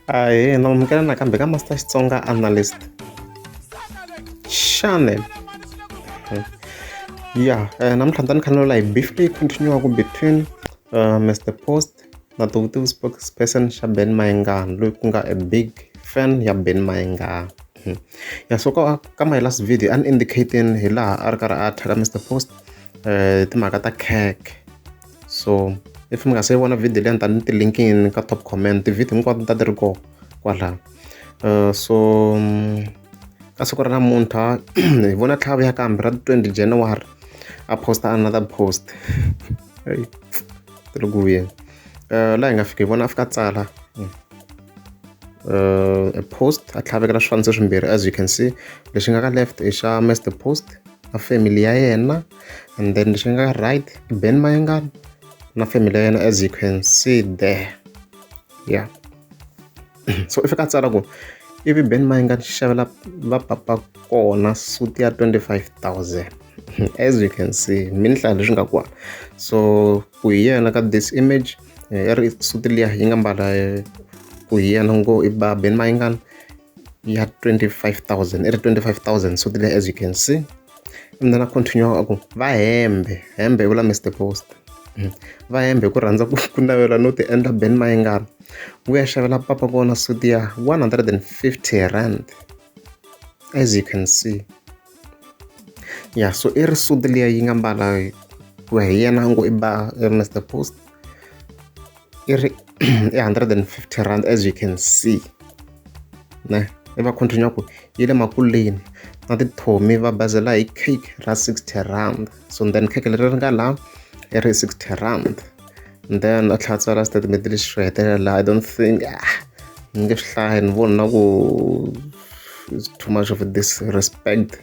ahee na amukela nakambe ka master xitsonga analyst channel hmm. ya eh, namuntlha ni ta ni khanelula hi beef leyi continuaka between uh, mr post na the vutivi spokesperson xa ben mayengani loyi ku nga a big fan ya ben mayengani hmm. ya so ka, ka my last video an indicating hi laha a ri karhi a thyaka mr post eh, timhaka ta cake so if mi nga se vona video leyi ni ta ni tilinkini ka top comment tivhidiyo hinkwato ni ta ti ri kona kwalaho uh, so mm, ka siku ra namuntlha hi vona tlhava ya kambe ra 20 january a posta another post ti ri ku vuyeni uh, laha hi nga fika hi vona a fika tsala hmm. uh, a post a tlhavekela swifaniso swimbirhi as you can see lexi nga ka left i xa master post a family ya yena and then lexi nga right ben mayengani na family ya yena as you can see there yeah so if ka tsala ku ivi ben mayengani xi xavela va papa kona suti ya 25000 as you can see minhlaya leswi nga kona so ku hi yena ka this image eh, i ri suti liya yi nga mbala eh, ku hi yena ngo i ba ben mayengani ya 25000 i ri 25000 so tile as you can see and then a continue a ku va hembe hembe i vula mr post hmm. va hembe ku rhandza ku navela no ti endla ben mayingana ku ya xavela papa kona suti ya 150 rand as you can see ya so i risudu liya yi nga mbala ku ya hi yena a ngo i ba mr post i ri i 150 rand as you can see ne i va continue ku yi le makuleni na tithomi va bazela hi cake ra 60 rand so then cake leri ri nga laha i ri 60 rand then a tlhela tsala statement lexi xo hetelela i don't think ah ni nge swi hlayi ni vona na ku is too much of a disrespect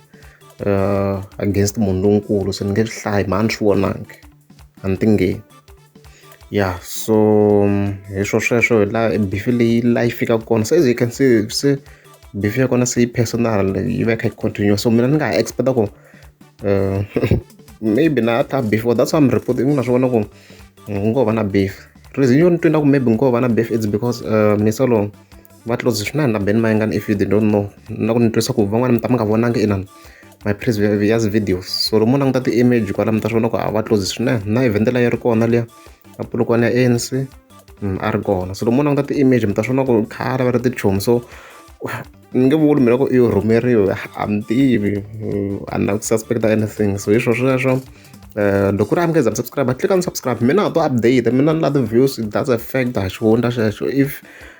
uh, against munhu lonkulu se ni nge swi hlayi mhani swi vonangi a ni tingeni ya so um, hi swo sweswo hi laha bifi leyi laha yi fikaka kona se as you can see se bifi ya kona se yi personal yi va yi kha yi continue so mina ni nga ha expecta ku uh, maybe na ta beef or that's why i'm reporting ku na swi vona ku ngo va na beef reason yo ni twina ku maybe ngo va na beef it's because uh, misolo va close swinene na ben mayengani if you don't know na ku ni twisa ku van'wana mi ta mi nga vonangi inani my previous videos so lomu languta ti-image kwala mi ta swi vona ku a va close swinene na evhende la yi ri kona liya na pulukwana ya anc mm, a ri kona so lomu languta ti-image mi ta swi vona ku khale va ri tichomi so ni nge vuli mina ku i rhumeriwe a mi tivi a na ku suspecta anything so hi swo sweswo Eh, loko ri amukeza msubscribe click on subscribe mina to update mina ni la ti-views that's a fact a xi hundza xexo if